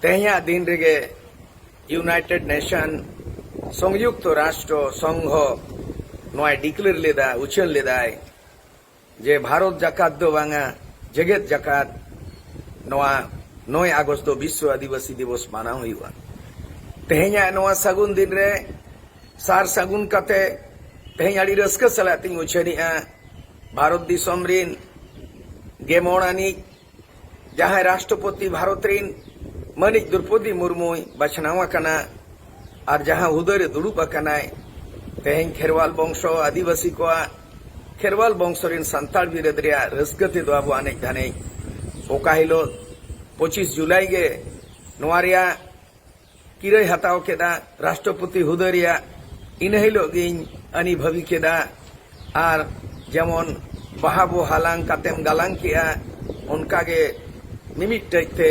ᱛᱮᱦᱮᱧᱟᱜ ᱫᱤᱱ ᱨᱮᱜᱮ ᱭᱩᱱᱟᱭᱴᱮᱰ ᱱᱮᱥᱚᱱ ᱥᱚᱝᱭᱩᱠᱛᱚ ᱨᱟᱥᱴᱨᱚ ᱥᱚᱝᱜᱷᱚ ᱱᱚᱣᱟᱭ ᱰᱤᱠᱞᱮᱭᱟᱨ ᱞᱮᱫᱟ ᱩᱪᱷᱟᱹᱱ ᱞᱮᱫᱟᱭ ᱡᱮ ᱵᱷᱟᱨᱚᱛ ᱡᱟᱠᱟᱛ ᱫᱚ ᱵᱟᱝᱟ ᱡᱮᱜᱮᱛ ᱡᱟᱠᱟᱛ ᱱᱚᱣᱟ ᱱᱚᱭ ᱟᱜᱚᱥᱴ ᱫᱚ ᱵᱤᱥᱥᱚ ᱟᱹᱫᱤᱵᱟᱹᱥᱤ ᱫᱤᱵᱚᱥ ᱢᱟᱱᱟᱣ ᱦᱩᱭᱩᱜᱼᱟ ᱛᱮᱦᱮᱧᱟᱜ ᱱᱚᱣᱟ ᱥᱟᱹᱜᱩᱱ ᱫᱤᱱ ᱨᱮ ᱥᱟᱨ ᱥᱟᱹᱜᱩᱱ ᱠᱟᱛᱮ ᱛᱮᱦᱮᱧ ᱟᱹᱰᱤ ᱨᱟᱹᱥᱠᱟᱹ ᱥᱟᱞᱟᱜ ᱛᱤᱧ ᱩᱪᱷᱟᱹᱱᱮᱜᱼᱟ ᱵᱷᱟᱨᱚᱛ ᱫᱤᱥᱚᱢ ᱨᱤᱱ ᱜᱮᱢᱚᱬ ᱟᱹᱱᱤᱡ ᱡᱟᱦᱟᱸᱭ ᱨᱟᱥᱴᱨᱚᱯᱚᱛᱤ ᱵᱷᱟᱨᱚᱛ ᱨᱤᱱ ᱢᱟᱹᱱᱤᱡ ᱫᱨᱚᱯᱚᱫᱤ ᱢᱩᱨᱢᱩᱭ ᱵᱟᱪᱷᱱᱟᱣ ᱟᱠᱟᱱᱟ ᱟᱨ ᱡᱟᱦᱟᱸ ᱦᱩᱫᱟᱹ ᱨᱮ ᱫᱩᱲᱩᱵ ᱟᱠᱟᱱᱟᱭ ᱛᱮᱦᱮᱧ ᱠᱷᱮᱨᱣᱟᱞ ᱵᱚᱝᱥᱚ ᱟᱹᱫᱤᱵᱟᱹᱥᱤ ᱠᱚᱣᱟᱜ ᱠᱷᱮᱨᱣᱟᱞ ᱵᱚᱝᱥᱚ ᱨᱤᱱ ᱥᱟᱱᱛᱟᱲ ᱵᱤᱨᱟᱹᱫ ᱨᱮᱭᱟᱜ ᱨᱟᱹᱥᱠᱟᱹ ᱛᱮᱫᱚ ᱟᱵᱚ ᱟᱱᱮᱡ ᱫᱷᱟᱱᱮᱡ ᱚᱠᱟ ᱦᱤᱞᱚᱜ ᱯᱚᱸᱪᱤᱥ ᱡᱩᱞᱟᱭ ᱜᱮ ᱱᱚᱣᱟ ᱨᱮᱭᱟᱜ ᱠᱤᱨᱟᱹᱭ ᱦᱟᱛᱟᱣ ᱠᱮᱫᱼᱟ ᱨᱟᱥᱴᱨᱚᱯᱚᱛᱤ ᱦᱩᱫᱟᱹ ᱨᱮᱭᱟᱜ ᱤᱱᱟᱹ ᱦᱤᱞᱚᱜ ᱜᱮᱧ ᱟᱹᱱᱤᱵᱷᱟᱹᱵᱤ ᱠᱮᱫᱼᱟ ᱟᱨ ᱡᱮᱢᱚᱱ ᱵᱟᱦᱟ ᱵᱚ ᱦᱟᱞᱟᱝ ᱠᱟᱛᱮᱢ ᱜᱟᱞᱟᱝ ᱠᱮᱫᱼᱟ ᱚᱱᱠᱟ ᱜᱮ ᱢᱤᱢᱤᱫᱴᱟᱹᱡ ᱛᱮ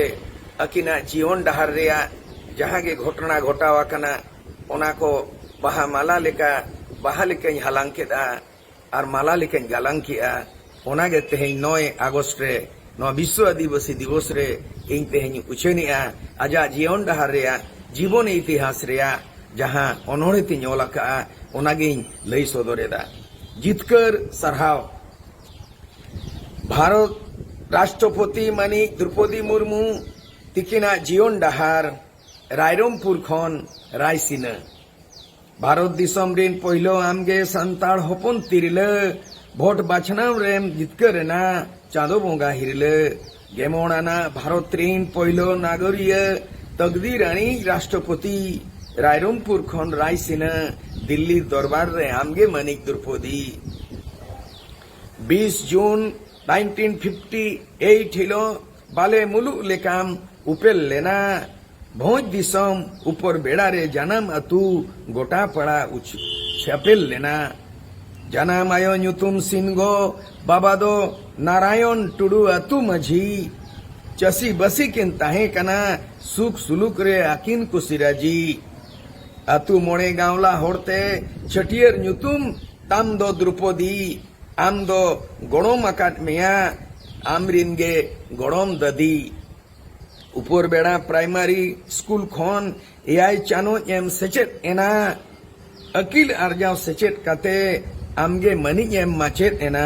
ᱟᱹᱠᱤᱱᱟᱜ ᱡᱤᱭᱚᱱ ᱰᱟᱦᱟᱨ ᱨᱮᱭᱟᱜ ᱡᱟᱦᱟᱸ ᱜᱮ ᱜᱷᱚᱴᱚᱱᱟ ᱜᱷᱚᱴᱟᱣ ᱟᱠᱟᱱᱟ ᱚᱱᱟ ᱠᱚ ᱵᱟᱦᱟ ᱢᱟᱞᱟ ᱞᱮᱠᱟ ᱵᱟᱦᱟ ᱞᱮᱠᱟᱧ ᱦᱟᱞᱟᱝ ᱠᱮᱫᱼᱟ ᱟᱨ ᱢᱟᱞᱟ ᱞᱮᱠᱟᱧ ᱜᱟᱞᱟᱝ ᱠᱮᱫᱼᱟ ᱚᱱᱟ ᱜᱮ ᱛᱮᱦᱮᱧ ᱱᱚᱭ ᱟᱜᱚᱥᱴ ᱨᱮ ᱱᱚᱣᱟ ᱵᱤᱥᱥᱚ ᱟᱹᱫᱤᱵᱟᱹᱥᱤ ᱫᱤᱵᱚᱥ ᱨᱮ ᱤᱧ ᱛᱮᱦᱮᱧ ᱤᱧ ᱩᱪᱷᱟᱹᱱ ᱮᱫᱼᱟ ᱟᱡᱟᱜ ᱡᱤᱭᱚᱱ ᱰᱟᱦᱟᱨ ᱨᱮᱭᱟᱜ ᱡᱤᱵᱚᱱ ᱤᱛᱤᱦᱟᱥ ᱨᱮᱭᱟᱜ ᱡᱟᱦᱟᱸ ᱚᱱᱚᱬᱦᱮ ᱛᱤᱧ ᱚᱞ ᱟᱠᱟᱫᱼᱟ ᱚᱱᱟ ᱜᱮᱧ ᱞᱟᱹᱭ ᱥᱚᱫᱚᱨ ᱮᱫᱟ ᱡᱤᱛᱠᱟᱹᱨ ᱥᱟᱨᱦᱟᱣ ᱵᱷᱟᱨᱚᱛ ᱨᱟᱥᱴᱨᱚᱯᱚᱛᱤ ᱢᱟᱹᱱᱤᱡ ᱫᱨᱩᱯᱚᱫᱤ ᱢᱩᱨᱢᱩ ᱛᱤᱠᱤᱱᱟᱜ ᱡᱤᱭᱚᱱ ᱰᱟᱦᱟᱨ ᱨᱟᱭᱨᱚᱢᱯᱩᱨ ᱠᱷᱚᱱ ᱨᱟᱭᱥᱤᱱᱟᱹ ᱵᱷᱟᱨᱚᱛ ᱫᱤᱥᱚᱢ ᱨᱤᱱ ᱯᱳᱭᱞᱳ ᱟᱢᱜᱮ ᱥᱟᱱᱛᱟᱲ ᱦᱚᱯᱚᱱ ᱛᱤᱨᱞᱟᱹ ᱵᱷᱳᱴ ᱵᱟᱪᱷᱱᱟᱣ ᱨᱮᱢ ᱡᱤᱛᱠᱟᱹᱨ ᱮᱱᱟ ᱪᱟᱸᱫᱚ ᱵᱚᱸᱜᱟ ᱦᱤᱨᱞᱟᱹ ᱜᱮᱢᱚᱬ ᱟᱱᱟᱜ ᱵᱷᱟᱨᱚᱛ ᱨᱤᱱ ᱯᱳᱭᱞᱳ ᱱᱟᱜᱚᱨᱤᱭᱟᱹ ᱛᱚᱠᱫᱤᱨ ᱟᱹᱱᱤᱡ ᱨᱟᱥᱴᱨᱚᱯᱚᱛᱤ ᱨᱟᱭᱨᱚᱢᱯᱩᱨ ᱠᱷᱚᱱ ᱨᱟᱭᱥᱤᱱᱟᱹ ᱫᱤᱞᱞᱤ ᱫᱚᱨᱵᱟᱨ ᱨᱮ ᱟᱢᱜᱮ ᱢᱟᱹᱱᱤᱡ ᱫᱨᱩᱯᱚᱫᱤ ᱵᱤᱥ ᱡᱩᱱ ᱱᱟᱭᱤᱱᱴᱤᱱ ᱯᱷᱤᱯᱴᱤ ᱮᱭᱤᱴ ᱦᱤᱞᱳᱜ ᱵᱟᱞᱮ ᱢᱩᱞᱩᱜ ᱞᱮᱠᱟᱢ ᱩᱯᱮᱞ ᱞᱮᱱᱟ ᱵᱷᱚᱸᱡᱽ ᱫᱤᱥᱚᱢ ᱩᱯᱚᱨ ᱵᱮᱲᱟ ᱨᱮ ᱡᱟᱱᱟᱢ ᱟᱹᱛᱩ ᱜᱚᱴᱟ ᱯᱟᱲᱟ ᱩᱪᱷᱟᱹᱯᱮᱞ ᱞᱮᱱᱟ ᱡᱟᱱᱟᱢ ᱟᱭᱳ ᱧᱩᱛᱩᱢ ᱥᱤᱱᱜᱚ ᱵᱟᱵᱟ ᱫᱚ ᱱᱟᱨᱟᱭᱚᱱ ᱴᱩᱰᱩ ᱟᱹᱛᱩ ᱢᱟᱹᱡᱷᱤ ᱪᱟᱹᱥᱤ ᱵᱟᱹᱥᱤ ᱠᱤᱱ ᱛᱟᱦᱮᱸ ᱠᱟᱱᱟ ᱥᱩᱠ ᱥᱩᱞᱩᱠ ᱨᱮ ᱟᱹᱠᱤᱱ ᱠᱩᱥᱤ ᱨᱟᱹᱡᱤ ᱟᱹᱛᱩ ᱢᱚᱬᱮ ᱜᱟᱶᱞᱟ ᱦᱚᱲ ᱛᱮ ᱪᱷᱟᱹᱴᱭᱟᱹᱨ ᱧᱩᱛᱩᱢ ᱛᱟᱢ ᱫᱚ ᱫᱨᱩᱯᱚᱫᱤ ᱟᱢ ᱫᱚ ᱜᱚᱲᱚᱢ ᱟᱠᱟᱫ ᱢᱮᱭᱟ ᱟᱢ ᱨᱤᱱ ᱜᱮ ᱜᱚᱲᱚᱢ ᱫᱟᱹᱫᱤ᱾ ᱩᱯᱚᱨᱵᱮᱲᱟ ᱯᱨᱟᱭᱢᱟᱨᱤ ᱥᱠᱩᱞ ᱠᱷᱚᱱ ᱮᱭᱟᱭ ᱪᱟᱱᱚᱪ ᱮᱢ ᱥᱮᱪᱮᱫ ᱮᱱᱟ᱾ ᱟᱹᱠᱤᱞ ᱟᱨᱡᱟᱣ ᱥᱮᱪᱮᱫ ᱠᱟᱛᱮ ᱟᱢ ᱜᱮ ᱢᱟᱹᱱᱤᱡ ᱮᱢ ᱢᱟᱪᱮᱫ ᱮᱱᱟ᱾